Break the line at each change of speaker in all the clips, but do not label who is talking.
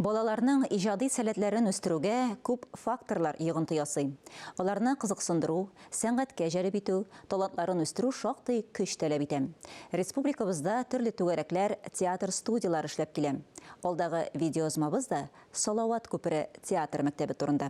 Балаларның иҗади сәләтләрен үстерүгә күп факторлар йогынты ясый. Аларны кызыксындыру, сәнгатькә җәлеп итү, талантларын үстерү шактый көч таләп итә. Республикабызда төрле түгәрәкләр, театр студияләре эшләп килә. Алдагы видеоязмабыз да Салават күпере театр мәктәбе турында.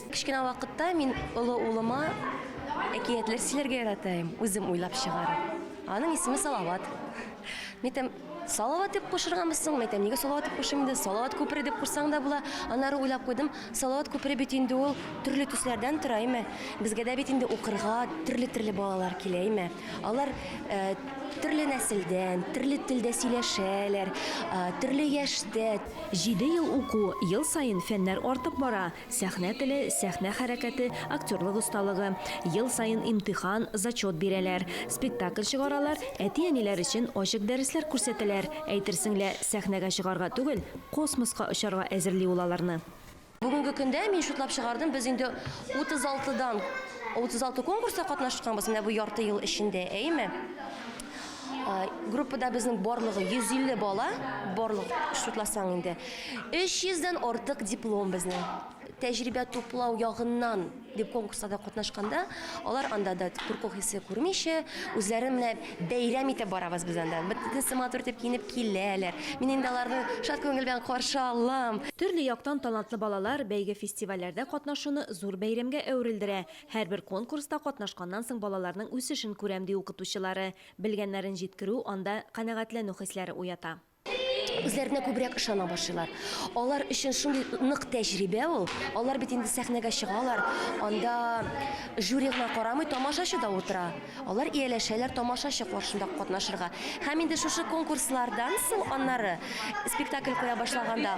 Кечкенә вакытта
мин олы улыма әкиятләр сөйләргә яратаем, үзем уйлап чыгарып. Аның исеме Салават. Мәйтәм, Салават дип кушырганбыз соң, мәйтәм, нигә Салават дип кушыйм инде? Салават күпере дип кушсаң да була. Аннары уйлап куйдым, Салават күпере бит инде ул төрле төсләрдән тора, әйме? Безгә дә бит инде укырга төрле-төрле балалар килә, әйме? Алар э, төрле нәселдән, төрле телдә сөйләшәләр, э, төрле яшьтә. Җиде ел
уку, ел саен фәннәр артып бара. Сәхнә теле, сәхнә хәрәкәте, актерлык осталыгы. Ел саен имтихан, зачет бирәләр. Спектакль чыгаралар, әти-әниләр өчен ачык дәресләр күрсәтәләр. Әйтерсең лә, сәхнәгә чыгарга түгел, космоска очарга әзерли ул аларны. Бүгенге көндә,
мин шутлап чыгардым, без инде 36 дан, 36 конкурста катнашканбыз менә бу ярты ел эчендә, әйеме? Группада безнең барлыгы 150 бала, барлык шутласаң инде. 300 дән артык диплом безнең. Тәҗрибә туплау ягыннан дип конкурсларда катнашканда, алар анда да курку хисе күрмичә, үзләрен менә бәйрәм итеп барабыз без анда. Бөтенесе матур итеп киенеп киләләр. Мин инде аларны шат күңел белән каршы алам. Төрле яктан
талантлы балалар бәйге-фестивальләрдә катнашуны зур бәйрәмгә әверелдерә. Һәрбер конкурста катнашканнан соң балаларның үсешен күрәм, ди укытучылары. Белгәннәрен җиткерү анда канәгатьләнү хисләре уята. Үзләренә
күбрәк ышана башлыйлар. Алар өчен шундый нык тәҗрибә ул. Алар бит инде сәхнәгә чыгалар, анда жюри гына карамый, тамашачы да утыра. Алар ияләшәләр тамашачы каршында катнашырга. Һәм инде шушы конкурслардан соң аннары, спектакль куя башлаганда,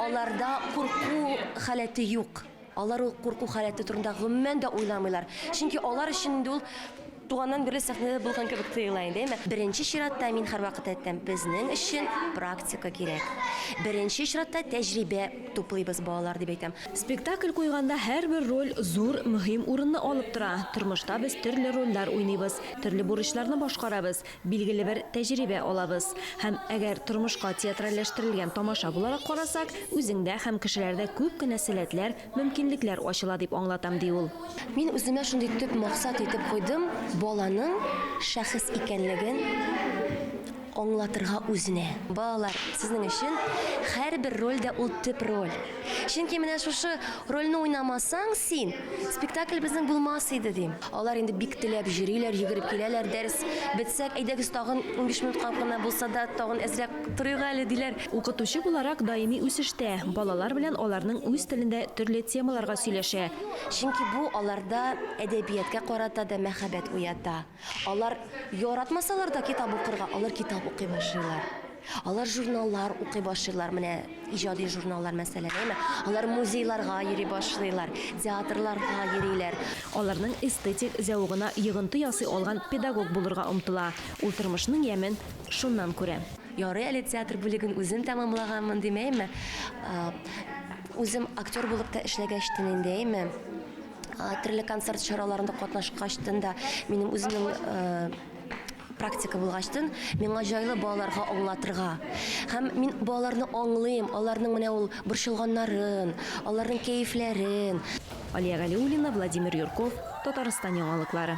аларда курку халәте юк. Алар ул курку халәте турында гомумән дә уйламыйлар, чөнки алар өчен инде ул туганнан бирле сәхнәдә булган кебек тоела инде, әйме? Беренче чиратта, мин һәрвакыт әйтәм, безнең өчен практика кирәк. Беренче чиратта тәҗрибә туплыйбыз, балалар, дип әйтәм. Спектакль куйганда
һәрбер роль зур, мөһим урынны алып тора. Тормышта без төрле рольләр уйныйбыз, төрле бурычларны башкарабыз. Билгеле бер тәҗрибә алабыз. Һәм әгәр тормышка театральләштерелгән тамаша буларак карасак, үзеңдә һәм кешеләрдә күп кенә сәләтләр, мөмкинлекләр ачыла, дип аңлатам, ди ул. Мин үземә шундый
төп максат итеп куйдым, баланың шәхес икәнлеген аңлатырга үзенә. Балалар, сезнең өчен һәрбер роль дә ул төп роль. Чөнки менә шушы рольне уйнамасаң син, спектакль безнең булмас иде, дим. Алар инде бик теләп йөриләр, йөгереп киләләр, дәрес бетсәк, әйдәгез тагын 15 минутка гына булса да тагын әзрәк торыйк әле, диләр. Укытучы буларак
даими үсештә, балалар белән аларның үз телендә төрле темаларга сөйләшә. Чөнки бу
аларда әдәбияткә карата да мәхәббәт уята. Алар яратмасалар да китап укырга, алар китап укый башлыйлар. Алар журналлар укый башлыйлар, менә иҗади журналлар мәсәлән. Алар музейларга йөри башлыйлар, театрларга йөриләр. Аларның
эстетик зәвыгына йогынты ясый алган педагог булырга омтыла. Ул тормышның ямен шуннан күрә. Ярый әле театр
бүлеген үзем тәмамлаганмын димәйме. Үзем актер булып та эшләгәч тен инде, әйме. Төрле концерт чараларында катнашкач тен да минем үземнең практика булгачтын миңа җайлы балаларга аңлатырга һәм мин балаларны аңлыйм аларның менә ул борчылганнарын аларның
кәефләрен
алия
галиуллина владимир юрков
татарстан
яңалыклары